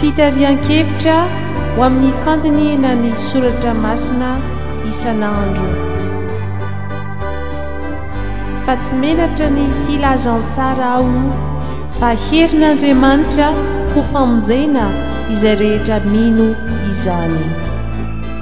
Fitarihan-kevitra ho amin'ny fandinihina ny soratra masina isan'andro. Fa tsy menatra ny filazantsara aho fa herin'Andriamanitra ho famonjena izay rehetra mino izany.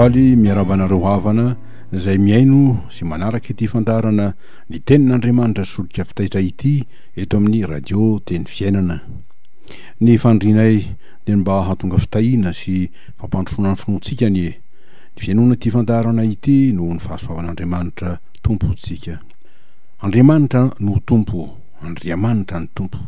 Faly miarahaba anareo havana izay mihaino sy manaraka ity fandaharana ny tenin'Andriamanitra solika fitaitra ity eto amin'ny radio teny fiainana. Ny fanirianay dia ny mba hahatonga fitahiana sy fampandrosoana ny finoantsika anie. Ny fihainoana ity fandaharana ity noho ny fahasoavan'Andriamanitra Tompo tsika. Andriamanitra no Tompo, Andriamanitra ny Tompo.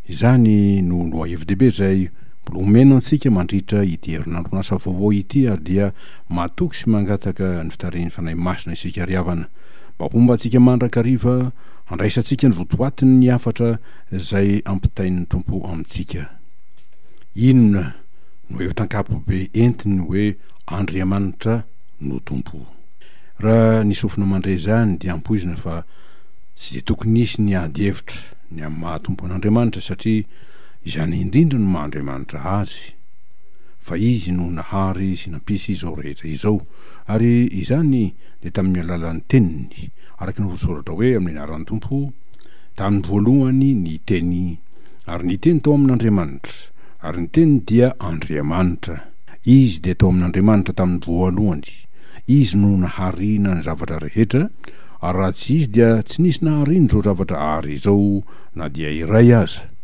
Izany no lohahevi-dehibe izay Omena antsika mandritra ity herinandron'asa vaovao ity ary dia matoky sy mangataka ny fitarihin'ny Fanahy Masina isika ry havana mba homba antsika mandrakariva handraisantsika ny votoatin'ny hafatra izay ampitain'ny Tompo amintsika. Inona no hevitra ankapobe entiny hoe Andriamanitra no Tompo? Raha ny sofina mandre izany dia ampoizina fa tsy dia tokony hisy ny ady hevitra ny amin'ny maha Tompo an'Andriamanitra satria Izany indrindra no maha Andriamanitra Azy, fa Izy no nahary sy nampisy izao rehetra izao, ary izany dia tamin'ny alalan'ny Teniny, araka ny voasoratra hoe, Amin'ny anaran'ny Tompo, tany voalohany ny Teny, ary ny Teny tao amin'Andriamanitra, ary ny Teny dia Andriamanitra. Izy dia tao amin'Andriamanitra tamin'ny voalohany. Izy no naharina ny zavatra rehetra, ary raha tsy Izy dia tsy nisy naharina izao zavatra hary izao na dia iray aza.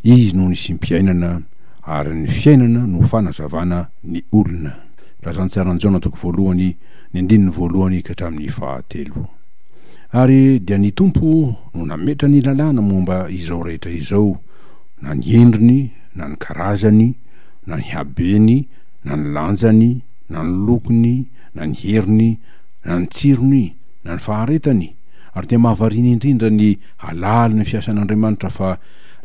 Izy no nisiam-piainana ary ny fiainana no fanazavana ny olona. Lazantsara Jaona toko voalohany ny andininy voalohany ka hatramin'ny fahatelo. Ary dia ny Tompo no nametra ny lalàna momba izao rehetra izao, na ny endriny, na ny karazany, na ny habeny, na ny lanjany, na ny lokony, na ny heriny, na ny tsirony, na ny faharetany, ary dia mahavariana indrindra ny Halaly ny fiasan'Andriamanitra fa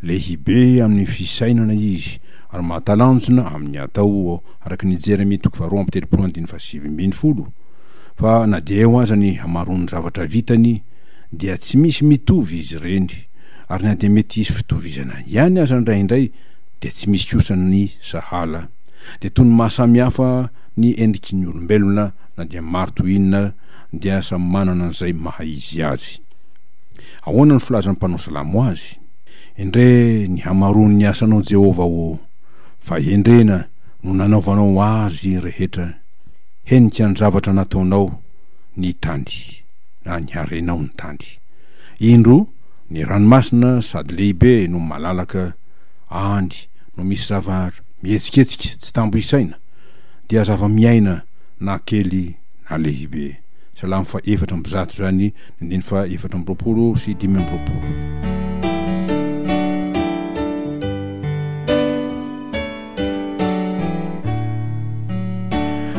lehibe amin'ny fisainana Izy ary mahatalanjona amin'ny atao, araka ny Jeremia toko faharoa amby telopolo andininy fahasivy ambin'ny folo, fa na dia eo aza ny hamaroan'ny zavatra vitany dia tsy misy mitovy izy ireny, ary na dia mety hisy fitovizana ihany aza indraindray dia tsy misy kosa ny sahala, dia toy ny mahasamihafa ny endriky ny olombelona na dia maro toy inona dia samy manana izay maha-izy azy. Ahoana no filazan'ny mpanao salamo azy? Endre ny hamaroan'ny asanao Jehovah ô, fa hendrena no nanaovanao azy rehetra, henika ny zavatra nataonao ny tany na ny harenao ny tany. Indro, ny ranomasina sady lehibe no malalaka, any no misy zava mihetsiketsika tsy tambo isaina, dia zava-miaina na kely na lehibe. Salamo faha efatra amby zato izany. Andininy faha efatra amby roapolo sy dimy amby roapolo.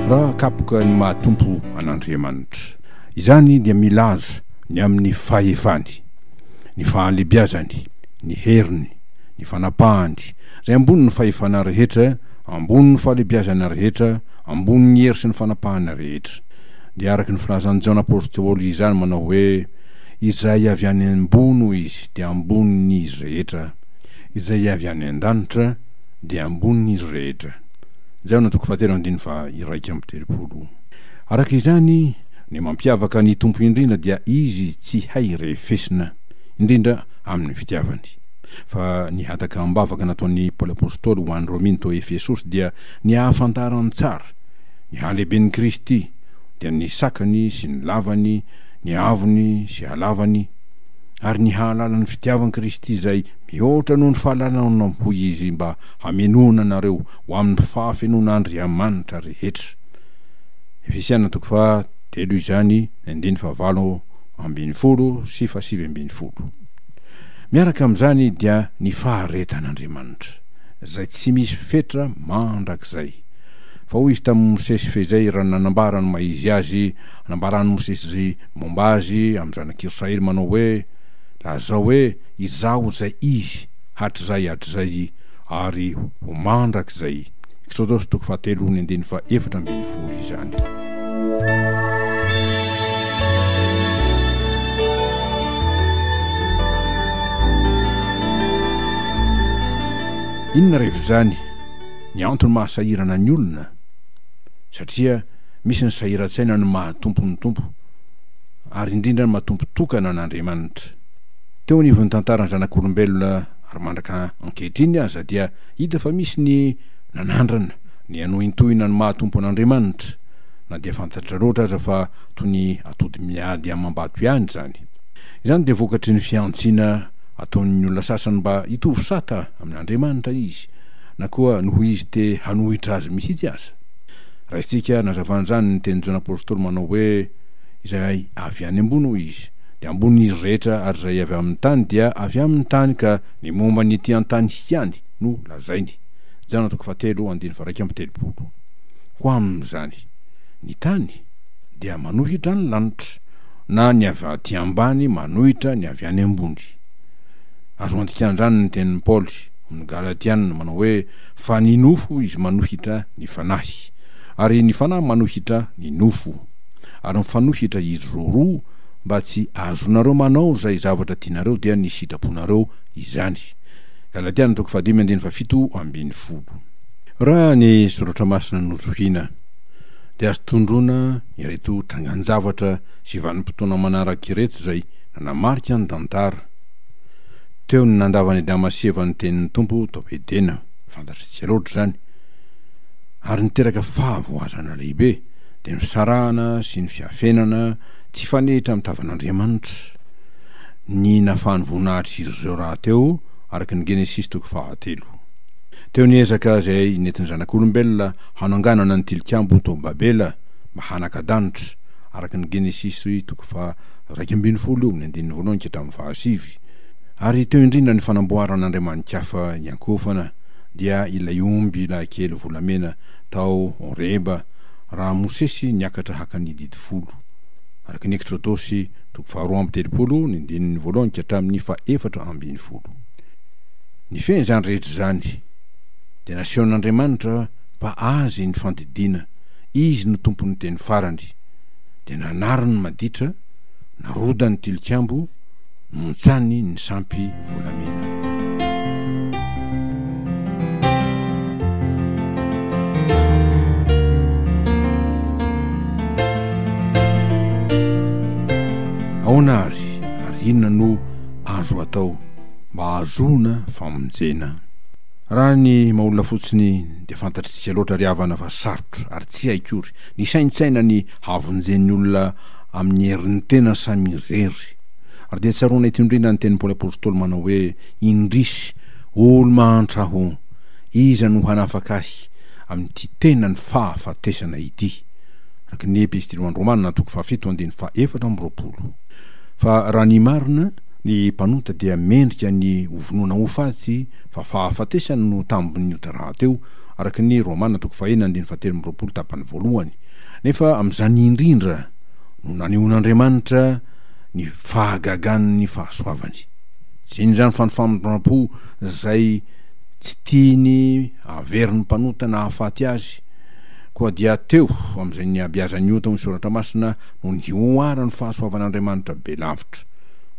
raha kapoka ny mahatompo an'Andriamanitra. Izany dia milaza ny amin'ny fahefany, ny fahalebiazany, ny heriny, ny fanapahany, izay ambonin'ny fahefana rehetra, ambonin'ny fahalebiazana rehetra, ambonin'ny hery sy ny fanapahana rehetra. Dia araka ny filazan'i Jaona Apostoly izany manao hoe, Izay avy any ambony hoy izy dia ambonin'izy rehetra, izay avy any an-danitra dia ambonin'izy rehetra. Jaona toko fahatelo andininy faha-iraika amby telopolo. Araka izany, ny mampiavaka ny Tompo indrindra dia Izy tsy hay refesina, indrindra amin'ny fitiavany. Fa ny hataka am-bavaka nataon'i Paoly Apostoly ho an'ireo mino tao Efesosy dia ny hahafantarany tsara ny halehiben'i Kristy, dia ny sakany sy ny lavany, ny avony sy halavany, ary ny hahalala ny fitiavan'i Kristy izay mihoatra noho ny fahalalanao, hoy Izy, mba hamenoana anareo ho amin'ny fahafenoana Andriamanitra rehetra. Efesiana toko faha telo izany, andininy faha valo ambin'ny folo sy faha sivy ambin'ny folo. Miaraka amin'izany dia ny faharetan'Andriamanitra, izay tsy misy fetra mandrakizay. Fa hoy Izy tamin'i Mosesy, Fehezay raha nanambara ny maha izy azy, anambara an'i Mosesy momba azy amin'ny zanak'i Israely manao hoe, Lazao hoe, Izaho izay izy, hatrizay hatrizay ary ho mandrakizay. Eksodosy toko fahatelo ny andininy fahefatra ambin'ny folo izany. Inona rehefa izany? Ny antony mahasahirana ny olona, satria misy ny sahiran-tsaina ny maha Tompon' ny Tompo, ary indrindra ny maha Tompo tokana an' Andriamanitra. Teo anivon' ny tantaran' zanak'olombelona ary mandraka ankehitriny aza dia hita fa misy ny nanandrana ny hanohintohina ny maha Tompo an' Andriamanitra, na dia fantatra loatra aza fa toy ny atody miady amam-bato ihany izany. Izany dia vokatry ny fihantsiana ataon' ny olona sasany mba hitovy sata amin' Andriamanitra izy, na koa noho izy te hanohitra azy mihitsy aza? Raisintsika nazavana izany ny tenin'ny Jaona Apostoly manao hoe, Izay avy any ambony, hoy izy, dia ambony izy rehetra, ary izay avy amin'ny tany dia avy amin'ny tany, ka ny momba ny ety an-tany ihany no lazainy. Jaona toko fahatelo andininy faharaika amby telopolo. Koa amin'izany, ny tany dia manohitra ny lanitra, na ny avy aty ambany manohitra ny avy any ambony. Azo andikan-drano ny tenin'i Paoly. Ny Galatiana manao hoe, Fa ny nofo izy manohitra ny fanahy, ary ny fanahy manohitra ny nofo, ary mifanohitra izy roroa, mba tsy hahazoanareo manao izay zavatra tianareo, dia ny sitraponareo izany. Galatiana toko fahadimy andininy fahafito ambin'ny folo. Raha ny Soratra Masina no zohiana, dia azo tondroina ireto trangan-javatra sy vanim-potoana manaraka ireto izay nanamarika ny tantara. Teo no nandavan' i Damasieva ny tenin' ny Tompo tao Edena, fantatr' isika loatra izany, ary niteraka fahavoazana lehibe, dia ny fisarahana sy ny fiafenana tsy hifanehitra amin' ny tavan' Andriamanitra, ny nahafahan'ny voninahitr' izy ireo rahateo, araka ny Genesisy toko fahatelo. Teo ny ezaka izay nentin' ny Zanak' olombelona hananganana ny tilikambo tao Babela mba hanaka-danitra, araka ny Genesisy toko faha-iraika ambin'ny folo eo amin'ny andininy voalohany ka hatramin'ny fahasivy. Jesosy. Ary teo indrindra ny fanamboaran'Andriamanikafa hiankofana dia ilay omby lahikely volamena tao Horeba raha Mosesy niakatra haka ny didy folo. Araka ny Eksodosy toko faharoa amby telopolo ny andininy voalohany ka hatramin'ny fahefatra ambin'ny folo. Ny fehin'izany rehetra izany dia nasehon'Andriamanitra fa Azy ny fandidiana, Izy no Tompon'ny teny farany, dia nanary ny maditra, narodany tilikambo, Montsany ny sampy volamena. Aona ary, ary inona no azo atao mba hahazoana famonjena? Raha ny maha-olona fotsiny dia fantatritsika loatra ry havana fa sarotra ary tsy hay kory ny hisaintsaina ny hahavonjen'ny olona amin'ny herin'ny tenany samy irery. Ary dia tsaroana eto indrindra ny tenin'i Paoly Apostoly manao hoe, Indrisy, O olo-mahantra aho, iza no hanafaka ahy amin'ity tenan'ny fahafatesana ity? araka ny Epistily ho an'ny Romana, toko fahafito, andininy fahefatra amby roapolo. Fa raha ny marina, ny mpanota dia mendrika ny hovonoina ho faty, fa fahafatesana no tambin'ny ota rahateo, araka ny Romana, toko fahenina, andininy fahatelo amby roapolo, tapany voalohany. Nefa amin'izany indrindra no nanehoan'Andriamanitra ny fahagagany ny fahasoavany. Tsy inona izany fa ny famindram-po izay tsy tiany haverin'ny mpanota na hahafaty azy. Koa dia teo amin'izay nihabeazan'ny ota ny Soratra Masina no nihoaran'ny fahasoavan'Andriamanitra be lavitra.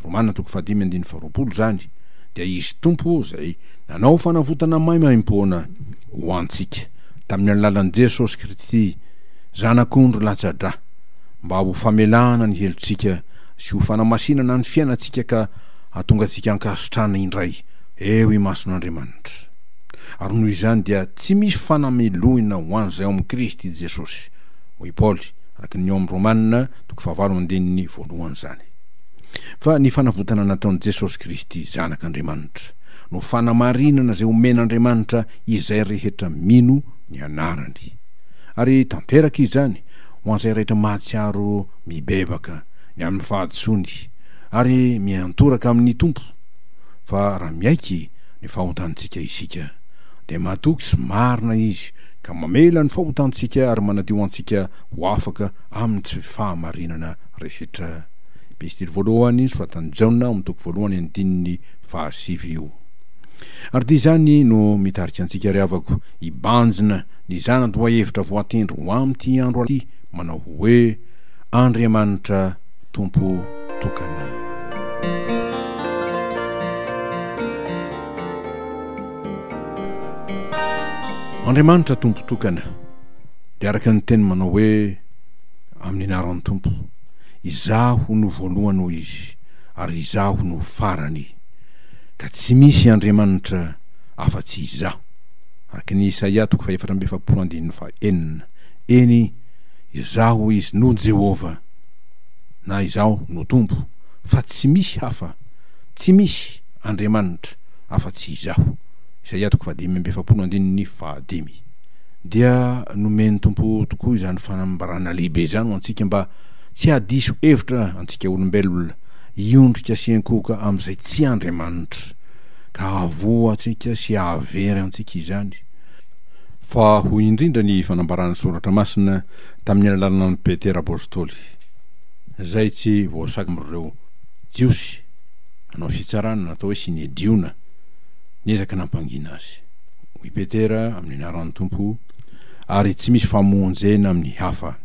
Romana toko fahadimy andininy faharoapolo izany, dia Izy Tompo izay nanao fanavotana maimaimpoana ho antsika. tamin'ny alalan'i Jesosy Kristy, Zanak'ondry latsa-drà, mba ho famelana ny helotsika sy ho fanamasinana ny fiainantsika ka hahatonga antsika ankasitrahana indray eo imason'Andriamanitra. Ary noho izany dia tsy misy fanamelohina ho an'izay ao amin'i Kristy Jesosy, hoy i Paoly, araka ny ao amin'ny Romana toko fahavalo andininy voalohany izany. Fa ny fanavotana nataon'i Jesosy Kristy, Zanak'Andriamanitra, no fanamarinana izay omen'Andriamanitra izay rehetra mino ny anarany. Ary tanteraka izany ho an'izay rehetra mahatsiaro mibebaka ny amin'ny fahadisoany ary miantoraka amin'ny Tompo, fa raha miaiky ny fahotantsika isika, dia matoky sy marina Izy ka mamela ny fahotantsika ary manadio antsika ho afaka amin'ny tsy fahamarinana rehetra. Epistily voalohany soratan'i Jaona, amin'ny toko voalohany andininy fahasivy io. Ary dia izany no mitarika antsika ry havako hibanjina ny zana-dohahevitra voatendry ho amin'ity andro ity manao hoe, Andriamanitra Tompo tokana. Andriamanitra Tompo tokana dia araka ny teny manao hoe amin'ny anaran'ny Tompo, izaho no voalohany hoy izy ary izaho no farany. ka tsy misy Andriamanitra afa-tsy Izaho, araka ny Isaia toko fahefatra amby efapolo andininy fahenina, eny, Izaho, hoy Izy, no Jehovah, na Izaho no Tompo, fa tsy misy hafa, tsy misy Andriamanitra afa-tsy Izaho, Isaia toko fahadimy amby efapolo andininy fahadimy. Dia nomen'ny Tompo tokoa izany fanambarana lehibe izany ho antsika mba tsy hahadiso hevitra antsika olombelona, hiondrika sy hiankohoka amin'izay tsy Andriamanitra, ka hahavoa antsika sy hahavery antsika izany. Fa hoy indrindra ny fanambaran'ny Soratra Masina tamin'ny alalan'i Petera Apostoly, Izay tsy voasaky amin'ireo Jiosy nanao fitsarana, natao hoe Synediona, niezaka nampangina azy. Hoy Petera, Amin'ny anaran'ny Tompo, ary tsy misy famonjena amin'ny hafa,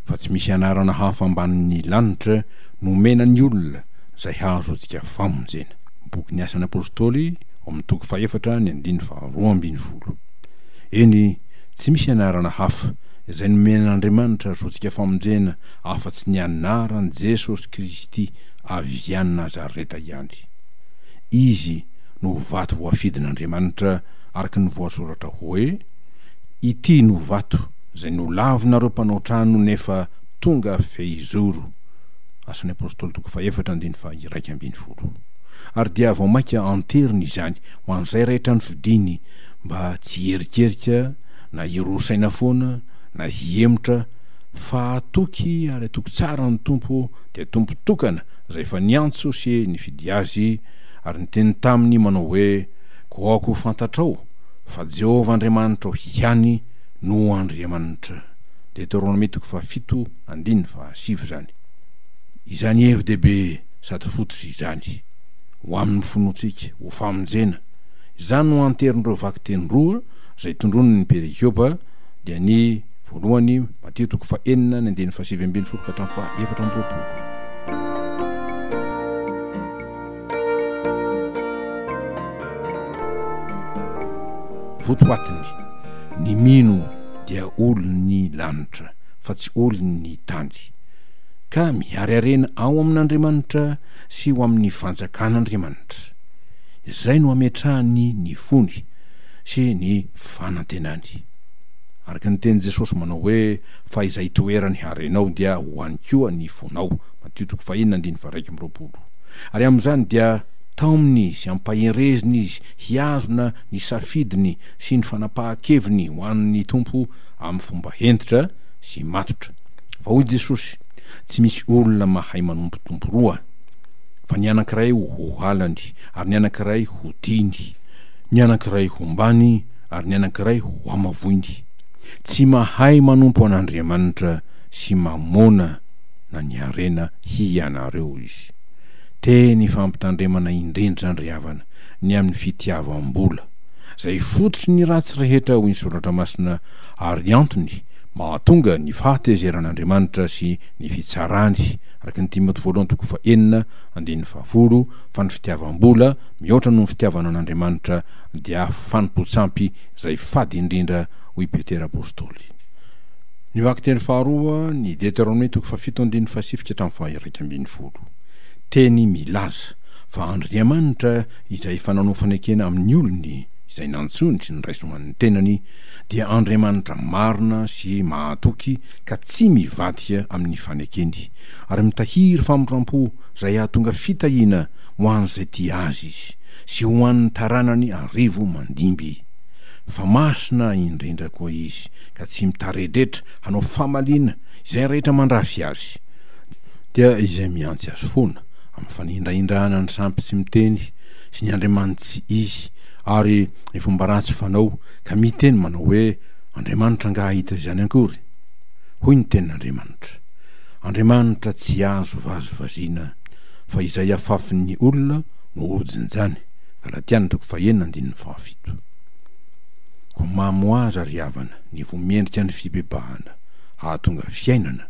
fa tsy misy anarana hafa ambanin'ny lanitra Nomena ny olona izay hahazoantsika famonjena. Boky Ny Asan'ny Apôstôly, ao amin'ny toko fahefatra, ny andininy faharoa ambin'ny folo. Eny, tsy misy anarana hafa izay nomen'Andriamanitra hahazoantsika famonjena afa-tsy ny anaran'i Jesosy Kristy avy any Nazareta ihany. Izy no vato voafidin'Andriamanitra araka ny voasoratra hoe, Ity no vato izay nolavinareo mpanao trano nefa Tonga fehizoro. Asan'ny Apôstôly toko fahefatra andininy faha-iraika ambin'ny folo. Ary dia vao mainka anteriny izany ho an'izay rehetra nifidiny mba tsy hierikerika na hiroa saina foana na hihemotra fa hatoky ary hatoky tsara ny Tompo dia Tompo tokana izay efa niantso sy nifidy azy ary niteny taminy manao hoe Koa aoka ho fantatrao fa Jehovah Andriamanitrao ihany no Andriamanitra Deteronomia toko fahafito andininy fahasivy izany. Izany hevi-dehibe sady fototra izany, ho amin'ny finoantsika, ho famonjena. Izany no anterin'ireo vakiteny roa izay tondroin'ny perikiopa, dia ny voalohany, Matio toko fahenina ny andininy fahasivy ambin'ny folo ka hatramin'ny faha efatra amby roapolo. Votoatiny, Ny mino dia olon'ny lanitra fa tsy olon'ny tany, ka mihareharena ao amin'Andriamanitra sy ho amin'ny fanjakan'Andriamanitra. Izay no ametrahany ny fony sy ny fanantenany. Araka ny tenin'i Jesosy manao hoe, Fa izay itoerany harenao dia ho any koa ny fonao. Ary amin'izany dia taominy izy, ampahereziny izy hihazona ny safidiny sy ny fanapahan-keviny ho an'ny Tompo amin'ny fomba hentitra sy matotra. Fa hoy Jesosy, Tsy misy olona mahay manompo tompo roa, fa ny anankiray ho halany, ary ny anankiray ho tiany, ny anankiray hombany, ary ny anankiray hohamavoiny. Tsy mahay manompo an'Andriamanitra sy Mamôna. na ny harena hianareo izy. Teny fampitandremana indrindra ry havana ny amin'ny fitiavam-bola, izay fototry ny ratsy rehetra hoy ny soratra masina ary antony mahatonga ny fahatezeran'Andriamanitra sy ny fitsarany, araka ny Timoty voalohany toko fahenina andininy fahafolo, fa ny fitiavam-bola mihoatra noho ny fitiavana an'Andriamanitra dia fanompoan-tsampy izay fady indrindra hoy Petera apostoly. Ny Vakiteny faharoa ny Deteronomia toko fahafito andininy fahasivy ka hatramin'ny faha-iraika ambin'ny folo. Teny milaza fa Andriamanitra izay efa nanao fanekena amin'ny olony izay nantsoiny sy niraisiny ho an'ny tenany dia Andriamanitra marina sy mahatoky ka tsy mivadika amin'ny fanekeny ary mitahiry famindrampo izay hahatonga fitahiana ho an'izay tia Azy Izy sy ho an'ny taranany arivo mandimby. Fa masina indrindra koa Izy ka tsy mitaredretra hanao famaliana izay rehetra mandrafy azy, dia izay mihantsy azy foana amin'ny fanindrahindrana ny sampy tsy miteny sy ny andriamanitsy izy ary ny fomba ratsy fanao ka miteny manao hoe Andriamanitra angaha hahita izany akory? Hoy ny tenin'Andriamanitra, Andriamanitra tsy azo vazivaziana fa izay afafin'ny olona no hojinjany, Galatiana toko fahenina andininy fahafito. Ho mamo ho aza ry havana ny ho mendrika ny fibebahana hahatonga fiainana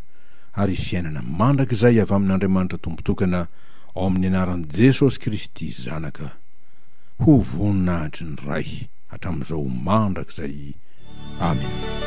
ary fiainana mandrakizay avy amin'Andriamanitra Tompo tokana ao amin'ny anaran'i Jesosy Kristy Zanaka ho voninahitry ny Ray hatramin'izao mandrakizay. Amena.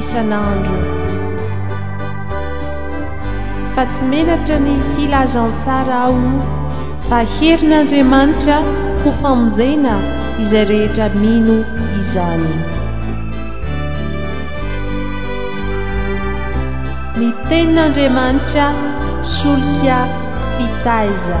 isan'andro. Fa tsy menatra ny filazantsara aho fa herin'Andriamanitra ho famonjena izay rehetra mino izany. Ny Tenin'Andriamanitra solika fitaiza.